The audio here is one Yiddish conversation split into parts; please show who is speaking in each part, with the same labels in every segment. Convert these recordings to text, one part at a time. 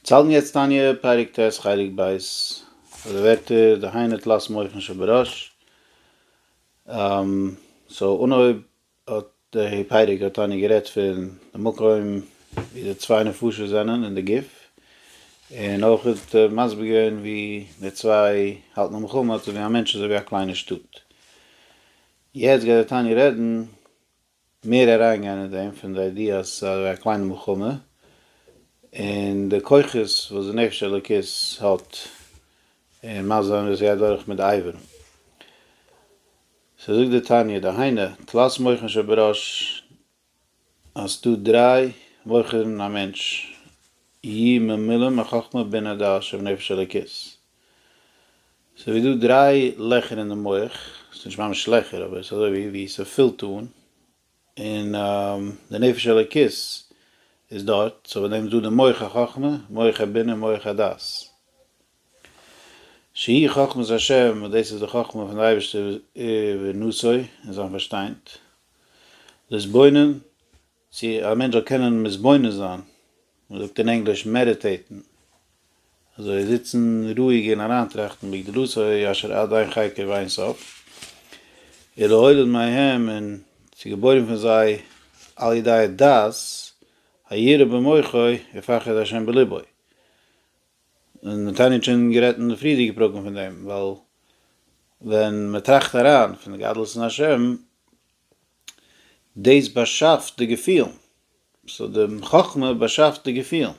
Speaker 1: צלם יעצט תניא, פרק ט', חלק ב', אדער ווערטער, דהיינו תלת מוחין שבראש, סאו אנהויב האט די פרק האט תניא גערעדט פון די מקום ווי די צוויי נפשות זענען אין די גוף, און אויך האט ער מסביר געווען ווי די צוויי האלטן א מלחמה, אזוי ווי א מענטש אזוי ווי א קליינע שטאט. יעצט גייט די תניא רעדן. מער אריינגיין אין דעם פון די איידיע אז עס איז א קליינע מלחמה און די כוחות וואס די נפש אלוקית האט און מה זה אומר וואס עס גייט דורך מיט די אייוועלט. סאו זאגט די תניא דהיינו תלת מוחין שבראש אז עס איז דא דריי מוחין אין א מענטש י מ מילים א חכמה בינה דעת ש ונפש אלוקית. ס'איז דא דריי לעכער אין די מח, ס'איז נישט ממש לעכער אבער ס'איז אזוי ווי ס'פילט אן, און די נפש האלוקית איז דארט, סאו ביי דעם איז דא די מח החכמה, מח הבינה, מח הדעת, שהיא חכמת השם וואס דאס איז די חכמה פון די אייבערשטער ונוסוי און זיין פארשטיינד, להתבונן צו א מענטש זאל קענען מתבונן זיין, מען זאגט אין ענגליש מעדיטעיטן, אזוי זיצן רואיג און אריינטראכטן בגדלות ה' אשר עד אין חקר ואין סוף, אלא הולד מהם און ס'איז געבוירן פון זיי על ידי דעת הירא במוחו ופחד ה' בלבו, און תניא האט שוין גערעדט אין די פריערדיגע פרקים פון דעם, ווייל ווען מען טראכט אריין פון גדלות אין השם, דאס באשאפט די געפילן. סאו די חכמה באשאפט די געפילן.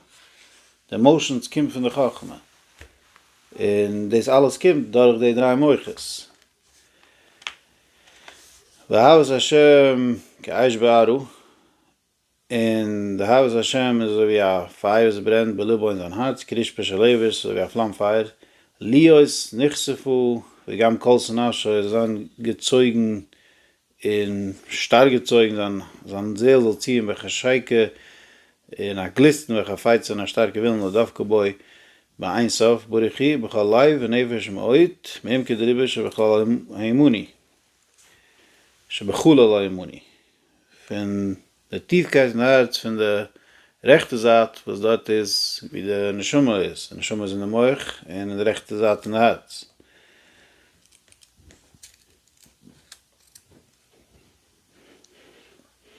Speaker 1: די עמאושענס קומט פון די חכמה. און דאס אלעס קומט דורך די דריי מוחות. ואהבת ה' כאש בערה. און די אהבת השם איז אזוי ווי א פייער וואס ברענט בלבו אין זיין הארץ, קריש פשע לעבו איז אזוי ווי א פלאם פייער, להיות נכספו וגם כל שנאה שוי זאל זיין געצויגן און שטארק געצויגן, זיין זיין זעהל זאל ציען וועלכע שייקע און א גליסטן וועלכע פייצט און א שטארקע ווילן לא דבקה בו באין סוף ברוך הוא בכל לב ונפש ומאוד מעמקי דריבה שבכלל האמוני. שבחולה לא ימוני, פון די טיפקייט פון הארץ פון די רעכטע זייט וואס דארט איז ווי די נשמה איז, די נשמה איז אין די מח און אין די רעכטע זייט פון די הארץ.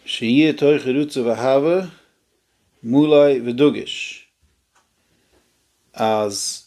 Speaker 1: שיהיה תוכו רצוף אהבה מלא ודגוש, אז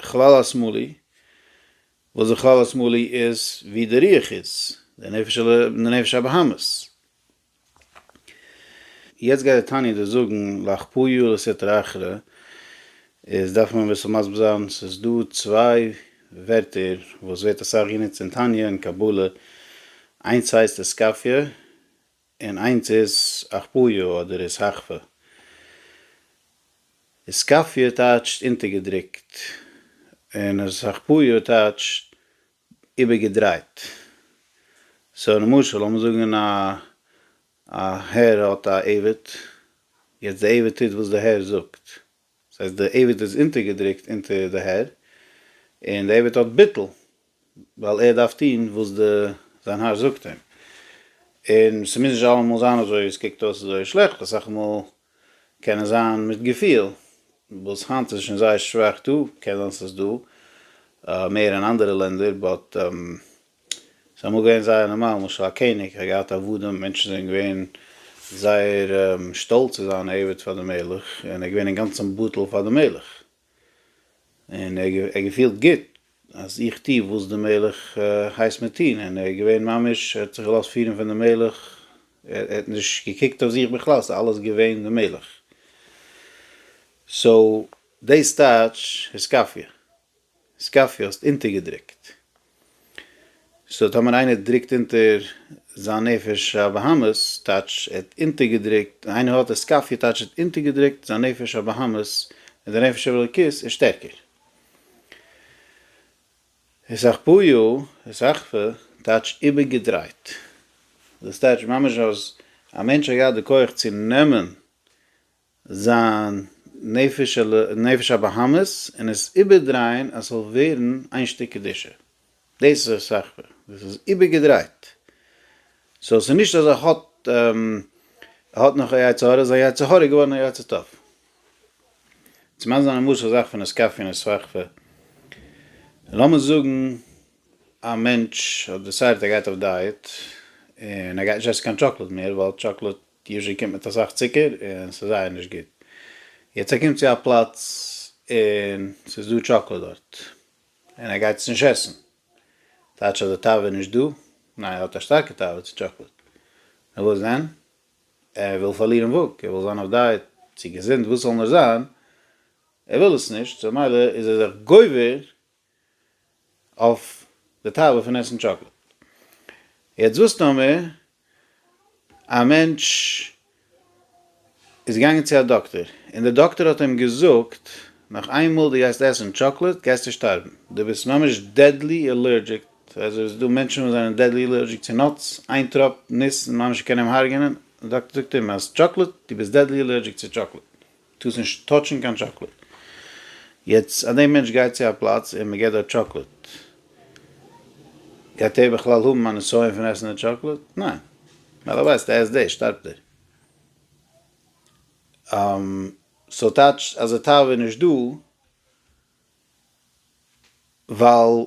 Speaker 1: כלל השמאלי, וואס די כלל השמאלי איז ווי די רוח איז, די נפש ע ל, די נפש הבהמית. יעצט גייט די תניא דא זאגן לך פויו לסטרא אחרא, איז דארף מען אביסל מסביר זיין, ס'איז דא צוויי ווערטער וואס ווערט אסאך גענוצט אין תניא און קבלה, איינס הייסט עסקפיא און איינס איז אכפויה אדער איז האכפע. איז קאפיא טייטשט אונטערגעדרוקט, און איז האכפויה טייטשט איבערגעדרייט. סאו למשל לאמיר זאגן א א הער האט א עבד, יעצט די עבד טוט וואס די הער זאגט, דאס הייסט די עבד איז אונטערגעדרוקט אונטער די הער, און די עבד האט ביטול, ווייל ער דארף טון וואס די זיין האר זאגט אים, און ס'מוז נישט אלעמאל זיין אזוי, עס קוקט אויס אזוי שלעכט, אסאך מאל קען עס זיין מיט געפיל, וואס היינט איז שוין זייער שוואך דא, קען זיין ס'איז דא מער אין אנדערע לענדער, באט. ס'איז אמאל געווען זייער נארמאל, למשל א קעניג האט געהאט עבדים, מענטשן זענען געווען זייער שטאלץ צו זיין א עבד פאר די מלך, און ער איז געווען אינגאנצן בטל פאר די מלך, און ער האט געפילט גוט אז איך טו וואס די מלך הייסט מיר טון, און ער איז געווען ממש, ער האט זיך געלאזט פירן פון די מלך, ער האט נישט געקוקט אויף זיך בכלל, ס'איז אלעס געווען די מלך. סאו דאס טייטש היסקאפיע. סקאפי האסט אונטערגעדרוקט. סאו טאמער איינער דרוקט אונטער זיין נפש הבהמית טייטש ער האט אונטערגעדרוקט, און איינער האט א סקאפי טייטש ער האט אונטערגעדרוקט זיין נפש הבהמית, און די נפש האלוקית איז שטערקער. הסחפויו, הסחפה, טייטש איבערגעדרייט. דאס טייטש ממש אז א מענטש האט געהאט די כח צו נעמען זיין נפש על נפש הבהמות און עס איבערדרייען אז ס'זאל ווערן איין שטיק קדושה. דאס איז ער סח פ. דאס איז איבערגעדרייט. סאו ס'איז נישט אז ער האט ער האט נאך א יצר הרע, זיין יצר הרע איז געווארן א יצר טוב. צו מיינט זיין א משהו סח פ נעסקאפין איז סח פ. לאמיר זאגן א מענטש האט דעסיידעט ער גייט אויף דייעט און ער גייט נישט עסן קיין טשאקלאד מער ווייל טשאקלאד קישן קומט מיט אסאך צוקער און ס'איז זייער נישט גוט. יעצט ער קומט צו א פלאץ און ס'איז דא טשאקלאד דארט און ער גייט עס נישט עסן. טייטש אז די תאווה איז נישט דא? ניין ער האט א שטארקע תאווה צו טשאקלאד. נו וואס דען? ער וויל פארלירן וואג, ער וויל זיין אויף דייעט, צו געזונט, וואס זאל נאר זיין, ער וויל עס נישט, סאו ממילא איז ער זיך גובר אויף די טאוול פון עסן טשאקלעד. יעצט וואס טאמער א מענטש איז געגאנגען צו א דאקטער און די דאקטער האט אים געזאגט נאך איין מאל די גייסט עסן טשאקלעד גייסטו שטארבן די ביסט ממש דעדלי עלערדזשיק אזוי איז דא מענטשן וואס זענען דעדלי עלערדזשיק צו נאטס איין טראפ ניס ממש קען אים הארגענען די דאקטער זאגט אים אז טשאקלעד די ביסט דעדלי עלערדזשיק צו טשאקלעד. טוס נישט טאטשן קיין טשאקלעד. יעצט אז די מענטש גייט צו א פלאץ און מ'געט דארט טשאקלעד, גייט ער בכלל האבן א נסיון פון עסן די טשאקלעד? ניין. ווייל ער ווייסט אז ער עסט דאס שטארבט ער. סאו טייטש אז די תאווה איז נישט דא ווייל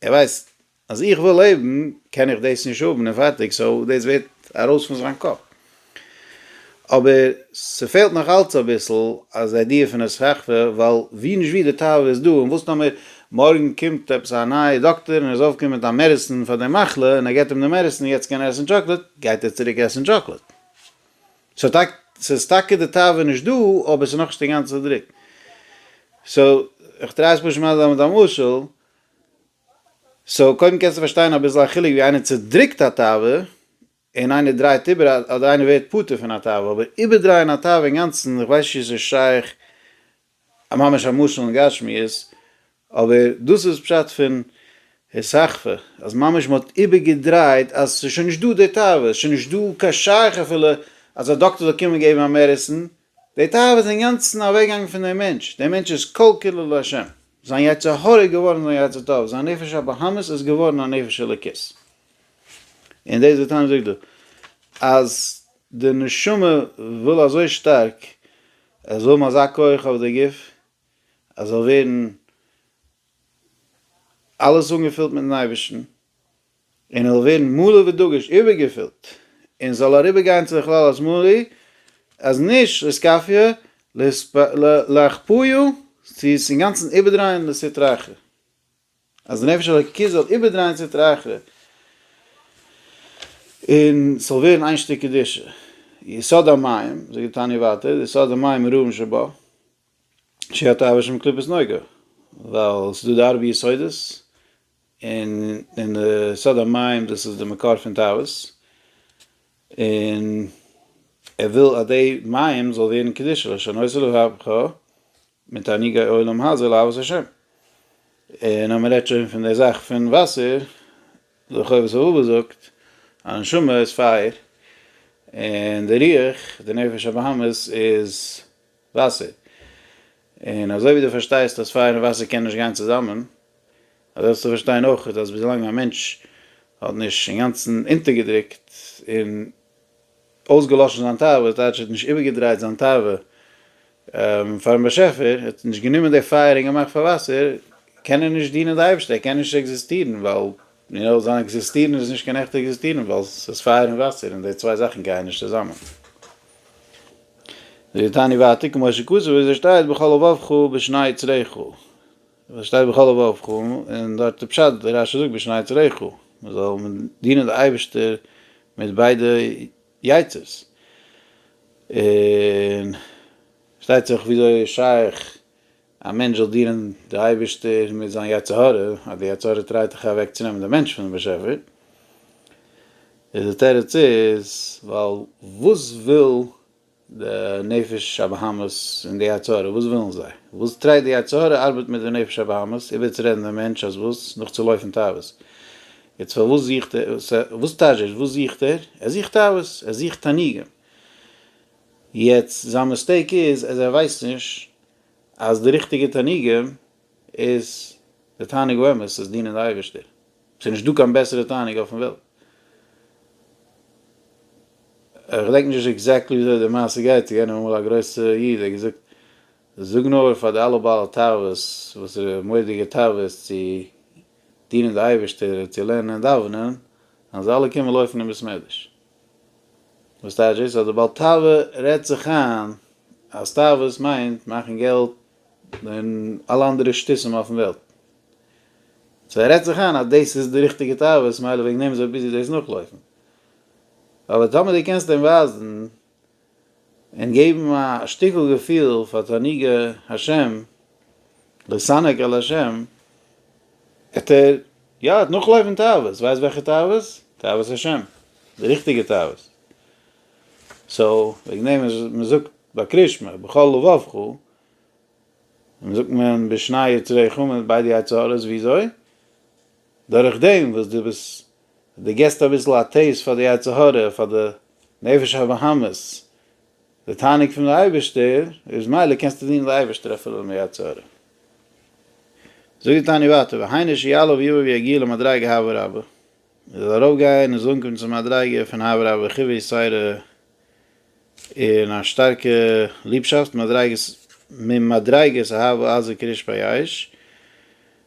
Speaker 1: ער ווייסט אז איך וויל לעבן קען איך דאס נישט האבן און פארטיג סאו דאס ווערט ארויס פון זיין קאפ. אבער ס'פעלט נאך אלץ אביסל אז איידיע פון א סככה ווייל ווי נישט ווי די תאווה איז דא און וואס טאמער מארגן קומט עפעס א נייע דאקטער און ער איז אויפגעקומען מיט א מעדעסין פאר די מחלה און ער געט אים די מעדעסין און יעצט קען ער עסן טשאקלעט גייט ער צוריק עסן טשאקלעט. סאו טאקע ס'איז טאקע די תאווה נישט דא אבער ס'איז נאכנישט אינגאנצן צודריקט. סאו כ'טריי עס פשוט מען זיין מיט א משל. סאו קודם קענסטו פארשטיין אביסל א חילוק ווי איינער צודריקט א תאווה און איינער דרייט איבער אדער איינער ווערט פטור פון א תאווה אבער איבערדרייען א תאווה אינגאנצן איך ווייס נישט צו ס'איז שייך ממש א משל אין גשמיות אבער דאס איז פשט פון הסחפה אז ממש מען האט איבערגעדרייט אז ס'איז שוין נישט דא די תאווה ס'איז שוין נישט דא קיין שייך אפילו אז א דאקטער זאל קומען געבן א מעדעסין די תאווה איז אינגאנצן אוועקגעגאנגען פון דעם מענטש, דער מענטש איז כל כולו לה', זיין יצר הרע איז געווארן זיין יצר טוב, זיין נפש הבהמית איז געווארן א נפש אלוקית. און דאס וואס תניא זאגט דא, אז די נשמה וויל אזוי שטארק עס זאל האבן אזא כח אויף די גוף, עס זאל ווערן אלעס אנגעפילט מיט'ן אייבערשטן, און ער זאל ווערן מלא ודגוש, איבערגעפילט, און זאל אריבערגיין צו די כלל אז מלא, אז נישט לסקפיא, להכפויו, צו עס אינגאנצן איבערדרייען לסטרא אחרא, אז די נפש האלוקית זאל איבערדרייען סטרא אחרא, און עס זאל ווערן איין שטיק קדושה, יסוד המים, זאגט די תניא ווייטער, די יסוד המים איז רובם שבו, שהתאווה שם קליפת נוגה, ווייל עס איז דא די ארבע יסודות, און אין די סוד המים דאס איז די מקור פון תאוות, און ער וויל אז די מים זאל ווערן קדושה לשנות לבבך מתענוגי עולם הזה לאהבת השם, און אז מען רעדט שוין פון די זאך פון וואסער, די חובת הלבבות זאגט אז נשמה איז פייער, און די רוח, די נפש הבהמית, איז וואסער. און אזוי ווי דו פארשטייסט אז פייער און וואסער קענען נישט גיין צוזאמען, אזוי זאלסטו פארשטיין אויך אז ווילאנג א מענטש האט נישט אינגאנצן אונטערגעדרוקט און אויסגעלאשן זיין תאווה, דאס טייטש ער האט נישט איבערגעדרייט זיין תאווה פאר'ן באשעפער, ער האט נישט גענומען די פייער און געמאכט פאר וואסער, קען ער נישט דינען די אייבערשטער, ער קען נישט עקזיסטירן, ווייל זיין עקזיסטירן איז נישט קיין עכטע עקזיסטירן, ווייל ס'איז פייער און וואסער און די צוויי זאכן גייען נישט צוזאמען. זאגט דער תניא ווייטער כמו שכתוב ווי עס שטייט בכל לבבך ובשני יצריך, ווי עס שטייט בכל לבבך און דארט איז פשט ווי רשי זאגט בשני יצריך מען זאל דינען די אייבערשטער מיט ביידע יצר'ס, און פארשטייט זיך וויאזוי איז שייך א מענטש זאל דינען די אייבישטער מיט זיין יצר הרע, אז די יצר הרע טרייט דאך אוועק צו נעמען די מענטש פונעם באשעפער, איז די תירוץ איז, ווייל וואס וויל די נפש הבהמית און די יצר הרע, וואס ווילן זיי? וואס טרייט די יצר הרע ארבעט מיט די נפש הבהמית איבערצורעדן דעם מענטש אז וואס? נאכצולויפן תאוות. יעצט פארוואס זוכט ער, וואס טייטש דאס וואס זוכט ער? ער זוכט תאוות, ער זוכט תענוגים. יעצט זיין מיסטעיק איז אז ער ווייסט נישט אז די ריכטיגע תענוגים איז די תענוג באמת צו דינען די אייבערשטער, ס'איז נישטא קיין בעסערע תענוג אויפן וועלט. כ'געדענק נישט עקזעקטלי ווי אזוי די מעשה גייט, ס'געווען אמאל א גרויסע איד, ער האט געזאגט, זאג נאר פאר די אלע בעלי תאוות, וואס איז די מורא'דיגע תאוות צו דינען די אייבערשטער און צו לערנען און דאווענען, אז זיי אלע קומען לויפן אין בית מדרש. וואס טייטש דאס אז די בעל תאווה רעדט זיך איין אז תאוות מיינט מאכן געלט און אלע אנדערע שטותים אויפן וועלט. סאו ער רעדט זיך איין אז דאס איז די ריכטיגע תאוות מילא וועגן דעם איז ער ביזי דאס נאכלויפן. אבער טאמער דו קענסט אים ווייזן. און געבן א שטיקל געפיל פאר תענוגי השם, לשנג על השם, עט ער, יא, עט נאכלויפן תאוות, ווייסט וועלכע תאוות? תאוות השם, די ריכטיגע תאוות. סאו, וועגן דעם איז מען זאגט ביי קרישמע, בכל לבבך, און זאגט מען בשני יצרי חמה, ביידע יצא הארץ, וויאזוי? דורך דעם וואס דו ביסט, דו גיבסט אביסל א טעיסט פאר די יצר הרע, פאר די נפש הבהמית, די תענוג פון די אייבערשטער, איז מילא קענסטו דינען די אייבערשטער אפילו אן די יצר הרע. זאגט די תניא ווייטער, והיינו שיעלה ויבא ויגיע למדריגה הוה רבא, ער זאל ארויף גיין און זאל אנקומען צום מדריגה פון הוה רבא וחיווי יסורי, און א שטארקע ליבשאפט, מדריגת ממדריגות אהבה עזה כריש פייאיש,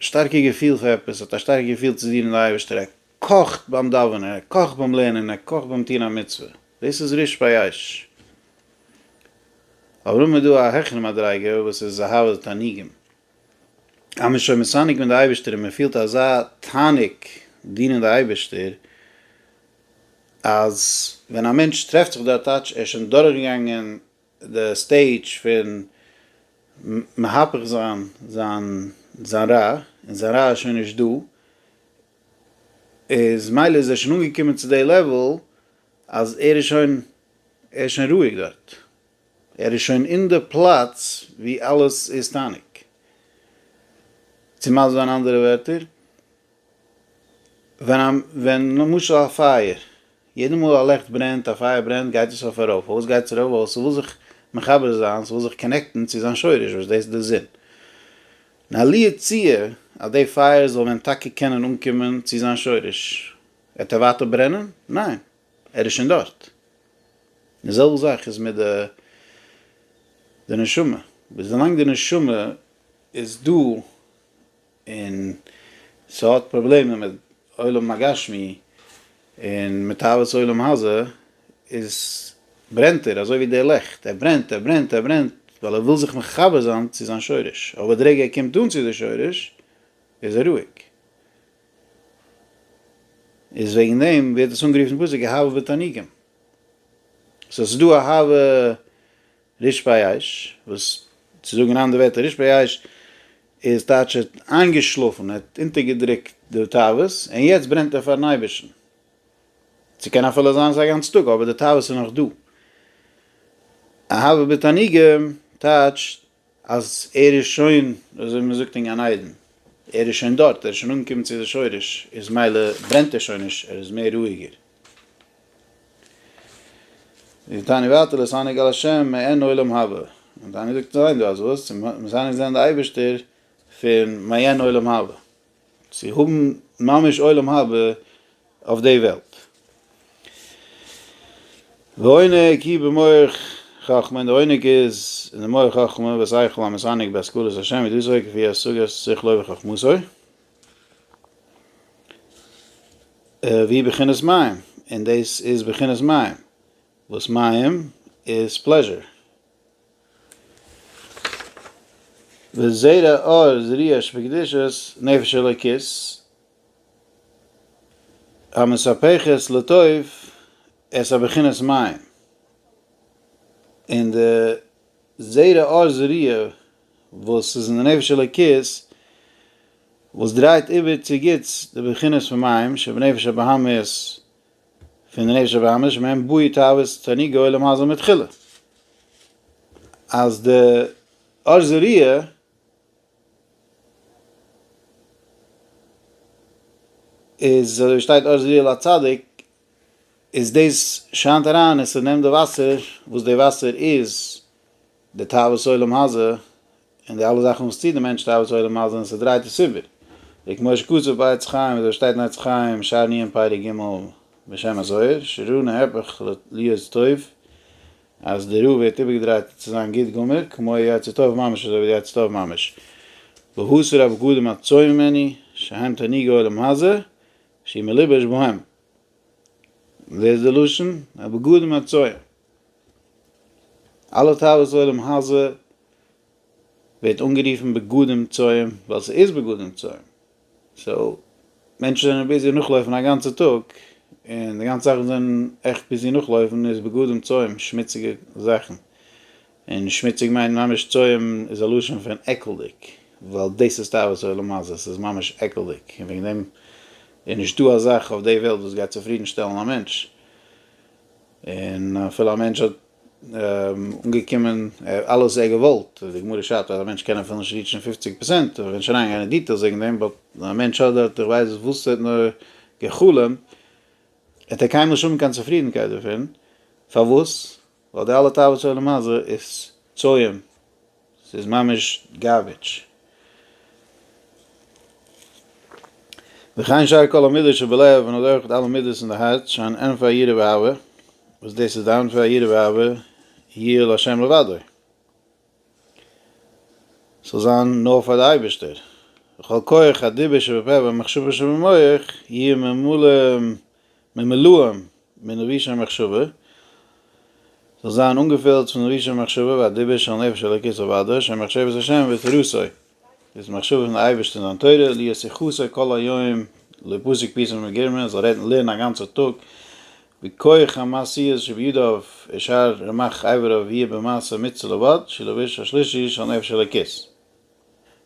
Speaker 1: שטארקע געפיל פאר עפעס, האט א שטארקע געפיל צו דינען די אייבערשטער, ער קאכט ביים דאווענען, ער קאכט ביים לערנען, ער קאכט ביים טון א מצוה, דאס איז ריש פייש. אבער אויב איז דא א העכערע מדריגה וואס איז אהבת תענוגים, אז מען איז שוין מסנוג מיט די אייבערשטער און מען פילט אזא תענוג דינען די אייבערשטער, אז ווען א מענטש טרעפט זיך דארט טייטש ער איז שוין דורכגעגאנגען די סטעידזש פון מהפך זיין זיין זיין רע, און זיין רע איז שוין נישט דא, איז מילא איז ער שוין אנגעקומען צו די לעוועל אז ער איז שוין ער איז שוין רואיג דארט, ער איז שוין אין די פלאץ ווי אלעס איז טאניג, צו מסביר אין אנדערע ווערטער. ווען א ווען למשל א פייער, יעדע מאל א לעכט ברענט, א פייער ברענט, גייט עס אויף ארויף, פארוואס גייט עס ארויף? ווייל ס'וויל זיך מחבר זיין, ס'וויל זיך קאנעקטן צו זיין שורש וואס דאס איז די זון. און עלי הציע אז די פייער זאל ווען טאקע קענען אנקומען צו זיין שורש, וועט ער ווייטער ברענען? ניין, ער איז שוין דארט. די זעלבע זאך איז מיט די די נשמה, וויאזוי לאנג די נשמה איז דא, און ס'האט פראבלעמען מיט עולם הגשמי און מיט תאוות עולם הזה, איז ברענט ער אזוי ווי די לעכט, ער ברענט, ער ברענט, ער ברענט, ווייל ער וויל זיך מחבר זיין צו זיין שורש, אבער די רגע ער קומט אן צו די שורש איז ער רואיג. איז וועגן דעם ווערט עס אנגערופן אין פסוק אהבה בתענוגים. סאו ס'איז דא אהבה. רישפייאיש, וואס צו זאגן אין אנדערע ווערטער רישפייאיש איז טייטש ער האט איינגעשלאפן, ער האט אונטערגעדרוקט די תאוות, און יעצט ברענט ער פארן אייבערשטן. ס'קען אפילו זיין ס'איז א גאנץ טאג אבער די תאוות איז נאך דא. אהבה בתענוגים טייטשט אז ער איז שוין, אזוי ווי מ'זאגט אין גן עדן, ער איז שוין דארט, ער איז שוין אנגעקומען צו די שורש, איז מילא ברענט ער שוין נישט, ער איז מער רואיגער. די תענית ווייטער לויט ענק אל השם מעין עולם הבא, און תענית זאגט ניין דו האסט וואס? מ'מוז ענק זען די אייבערשטער פון מעין עולם הבא, צו האבן ממש עולם הבא אויף די וועלט. ועונג היא במוח חכמה, און די עונג איז אין די מח חכמה, ושכל המסנג בהשכלת השם, ווי דאס אויך כפי השגת שכלו וחכמתו. ווי בחינת מים, און דאס איז בחינת מים, וואס מים איז פלעזשער. וזרע אור זריעה שבקדושת נפש אלוקית, המספחת לטוב את הבחינת מים, און די זרע אור זריעה וואס איז אין די נפש אלוקית וואס דרייט איבער צו גוטס די בחינות פון מים שבנפש הבהמית פון די נפש הבהמית שמהם בועט תאוות תענוגי העולם הזה מתחילה אז די אש זריעה איז אזוי ווי שטייט אש זריעה לצדיק איז דאס שיינט אריין און ס'נעמט די וואסער וואס די וואסער איז די תאוות עולם הזה, און די אלע זאכן וואס טוט די מענטש תאוות עולם הזה און ס'דרייט עס איבער. ווי כמו שכתוב ביי עץ חיים וויאזוי ס'שטייט אין עץ חיים שער ניעם פרק ג' בשם הזוהר שרע נהפך להיות טוב אז די רע ווערט איבערגעדרייט צו זיין גוט גמור כמו יצא טוב ממש אזוי ווי די יצא טוב ממש והסר הבגדים הצועים ממני שהם תענוגי עולם הזה שהיא מלובש בהם. ווער איז די לשון? הבגדים הצועים. אלע תאוות עולם הזה ווערט אנגערופן בגדים צועים ווייל ס'איז בגדים צועים, סאו מענטשן זענען ביזי נאכלויפן א גאנצע טאג און די גאנצע זאכן זענען עכט ביזי נאכלויפן איז בגדים צועים שמוציגע זאכן, און שמוציג מיינט ממש צועים איז א לשון פון עקלדיג ווייל דאס איז תאוות עולם הזה ס'איז ממש עקלדיג און וועגן דעם איז נישטא א זאך אויף די וועלט וואס גייט צופרידן שטעלן א מענטש. און אפילו א מענטש האט אנגעקומען אלעס ער געוואלט, די גמרא שרייבט אז א מענטש קען אפילו נישט ריעטשן פופציג פראצענט, מ'וועט נישט אריינגיין אין דיטעילס וועגן דעם, באט א מענטש האט דארט איך ווייס וואס ער האט נאר גע'חלומ'ט, וועט ער קיינמאל נישט האבן קיין צופרידנקייט דערפון, פארוואס? ווייל די אלע תאוות של עולם הזה איז צוים ס'איז ממש גארביטש. וכן שאר כל המידות שבלב און אזוי אויך אלע מידות אין די הארץ שהן ענפי היראה ואהבה וואס דאס איז די ענפי היראה ואהבה יהיה להשם לבדו ס'זאל זיין נאר פאר די אייבערשטער וכל כח הדיבור שבפה והמחשבה שבמח יהיה ממולא ממלאים מן רישי מחשבה, זאל זיין אנגעפילט פון רישי מחשבה והדיבור של נפש אלוקית לבדו, שם מחשבת השם ותורתו, דאס מחשבה פון די אייבערשטען זיין תורה, להיות יחוסה כל היום לפסוק פיסא מגירמא, זאל רעדן און לערנען א גאנצע טאג, בכח המעשיות שבידיו אשר רמח אבריו יהיה במעשה מצוה לבד, שלא בראש השלישי של נפש אלוקית.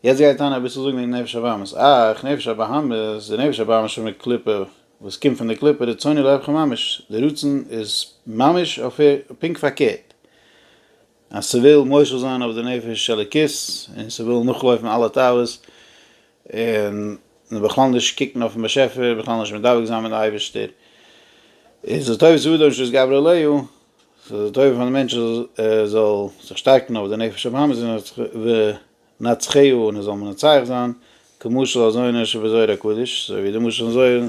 Speaker 1: יעצט גיי איך טאן אביסל זאגן וועגן נפש הבהמות, אך, נפש הבהמות, די נפש הבהמות פון די קליפה, וואס קומט פון די קליפה, רצוני לאהבך ממש, די רצון איז ממש פונקט פארקערט, אז ס'וויל מושל זיין אויף די נפש אלוקית, און ס'וויל נאכלויפן אלע תאוות, און בכלל נישט קוקן אויפן באשעפער, בכלל נישט מדבק זיין מיט די אייבערשטער, איז לטובת אדם שתתגבר עליו, ס'איז טוב פארן מענטש אז ער זאל זיך שטארקן אויף די נפש הבהמית ונצחהו און ער זאל מנצח זיין, כמשל הזונה שבזוהר הקדוש, אזוי ווי די משל פון זוהר, אזוי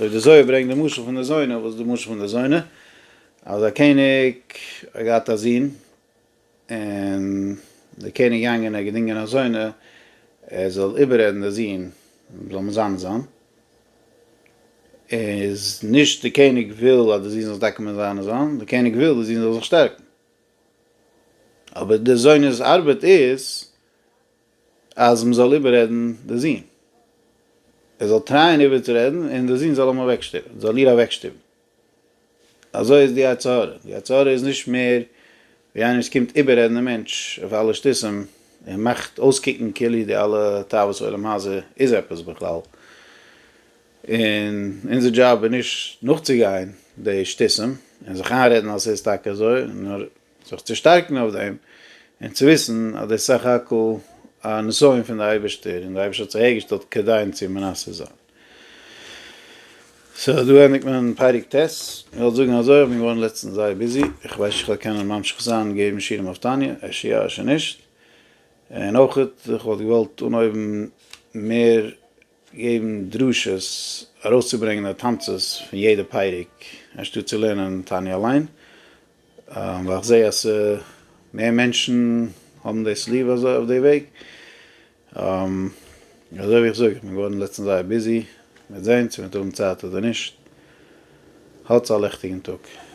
Speaker 1: ווי די זוהר ברענגט די משל פון די זונה, וואס איז די משל פון די זונה? אז א קעניג האט געהאט א זון, און דער קעניג געגאנגען און געדינגען א זונה, ער זאל איבעררעדן די זון, זאל מען זיין זון, איז נישט דער קעניג וויל אז די זון זאל טאקע מען זיין זון, דער קעניג וויל די זון זאל זיך שטערקן, אבער דער זונ'ס ארבעט איז אז מען זאל איבעררעדן די זון, ער זאל טרייען איבערצורעדן און די זון זאל אים אוועקשטופן, זאל איר אוועקשטופן. אזוי איז די יצר הרע, די יצר הרע איז נישט מער ווי איינער וואס קומט איבעררעדן דעם מענטש אויף אלע שטותים און מאכט אויסקוקן כאילו די אלע תאוות עולם הזה איז עפעס בכלל, און אונזער דזשאב איז נישט נאכצוגיין די שטותים און זיך איינרעדן אז ס'איז טאקע אזוי, נאר זיך צו שטארקן אויף דעם, און צו וויסן אז דאס איז סך הכל א נסיון פון די אייבערשטער, און די אייבערשטער האט זיך אהער געשטעלט כדי אונז צו מנסה זיין. סאו דא ענדיגט מען פרק ט'. איך וועל זאגן אזוי, איך בין געווארן לעצטנס זייער ביזי, איך ווייס נישט איך וועל קענען ממשיך זיין געבן שיעורים אויף תניא, אפשר יא אפשר נישט, און אויך איך וואלט געוואלט אנהויבן מער געבן דרשות, ארויסצוברענגען די תמצית פון יעדע פרק, אנשטאט צו לערנען תענית אליין, ווייל איך זעה אז מער מענטשן האבן דאס ליב אזוי אויף די וועג, אזוי ווי איך זאג, איך בין געווארן לעצטנס זייער ביזי, מען וועט זען צו מען וועט האבן צייט אדער נישט, האטס א לעכטיגן טאג.